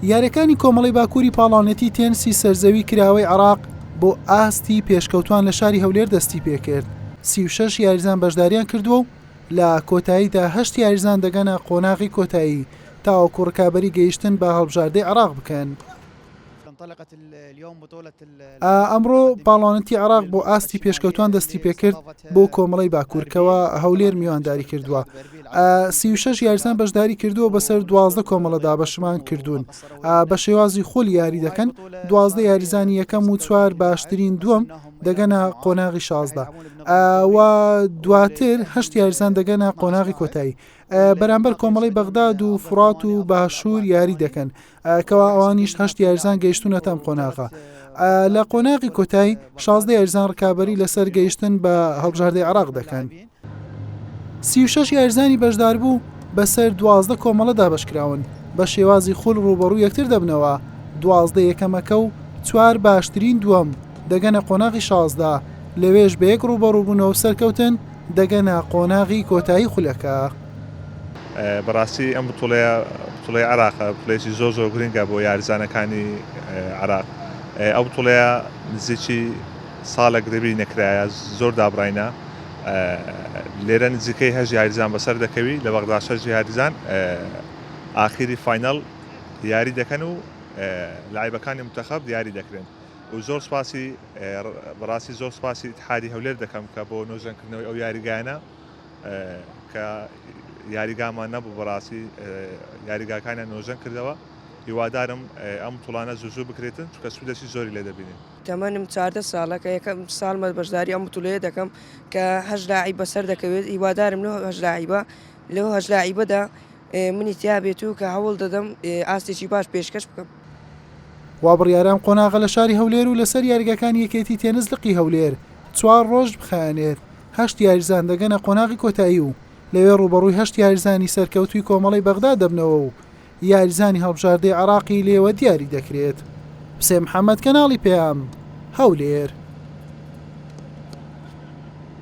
یاریەکانی کۆمەڵەی باکووری پاڵاونەتی تێنسی سەرزەوی کراوەی عێراق بۆ ئاستی پێشکەوتوان لە شاری هەولێر دەستی پێکرد، سی و شەش یاریزان بەشداریان کردووە و لە کۆتاییدا هەشت یاریزان دەگەنە قۆناغی کۆتایی تاوەکو رکابەری گەیشتن بە هەڵبژاردەی عێراق بکەن. ئەمڕۆ پاڵەوانێتی عێراق بۆ ئاستی پێشکەوتوان دەستی پێکرد بۆ کۆمەڵی باکوور کەوە هەولێر میوانداری کردووە سی و شش یاریزان بەشداری کردووە بەسەر دوازدە کۆمەڵەدا بەشمان کردوون بە شێوازی خۆل یاری دەکەن دوازدە یاریزانی یەکەم و چوار باشترین دووەم دەگەنە قۆناغی شازدە و دواتر هەشت یاریزان دەگەنە قۆناغی کۆتایی بەرامبەر کۆمەڵی بەغداد و فرات و باشوور یاری دەکەن کەوا ئەوانیش هەشت یاریزان گەیشتونەتە ئەم قۆناغە لە قۆناغی کۆتای شازدە یاریزان ڕکابی لەسەر گەیشتن بە هەڵبژاردەی عراق دەکەن سی شش یاریزانی بەشدار بوو بەسەر دوازدە کۆمەڵە دابشکراون بە شێوازی خول ڕوبەڕوو یەکتر دەبنەوە دوازدە یەکەمەکە و چوار باشترین دووەم دەگەنە قۆناغی شازدە لەوێش بە یەک ڕوبەڕووبوونەوە سەرکەوتن دەگەنە قۆناغی کۆتایی خولەکە. بەڕاستی ئەم بتوڵەیە بتوڵەی عراقە بتوڵەیەکی زۆر زۆر گرنگە بۆ یاریزانەکانی عراق ئەو بتوڵەیە نزیکی ساڵێک دەبی نەکرایە زۆر دابڕینە لێرە نزیکەی هەژ یاریزان بەسەر دەکەوی لە بەغدا شەژ یاریزان ئاخیری فینەڵ یاری دەکەن و لایبەکانی متەخەب دیاری دەکرێن و زۆر سپاسی بەڕاستی زۆر سپاسی حادی هەولێر دەکەم کە بۆ نۆژەنکردنەوەی ئەو یاریگانە کە یاریگامان نەبوو بەڕاستی یاریگاکانیان نۆژەن کردەوە هیوادارم ئەم بتوڵانە زوو زوو بکرێتن چونکە سوودێکی زۆری لێ دەبینین. تەمەنم چاردە ساڵە کە یەکەم ساڵمە بەشداری ئەم بتوڵەیە دەکەم کە هەشت لاعیب بەسەر دەکەوێت هیوادارم لەو هەشت لاعیبە لەو هەشت لاعیبەدا منی تیا بێت و کە هەوڵ دەدەم ئاستێکی باش پێشکەش بکەم. وابڕیارام قۆناغە لە شاری هەولێر و لەسەر یاریگاکانی یەکێتی تێنس لقی هەولێر چوار ڕۆژ بخایەنێت. هەشت یاریزان دەگەنە قۆناغی کۆتایی و لەوێ رووبەڕووی هەشت یاریزانی سەرکەوتووی کۆمەڵەی بەغداد دەبنەوە و یاریزانی هەڵبژاردەی عێراقی لێوە دیاری دەکرێت. حوسێن محەمەد، کەناڵی پەیام، هەولێر.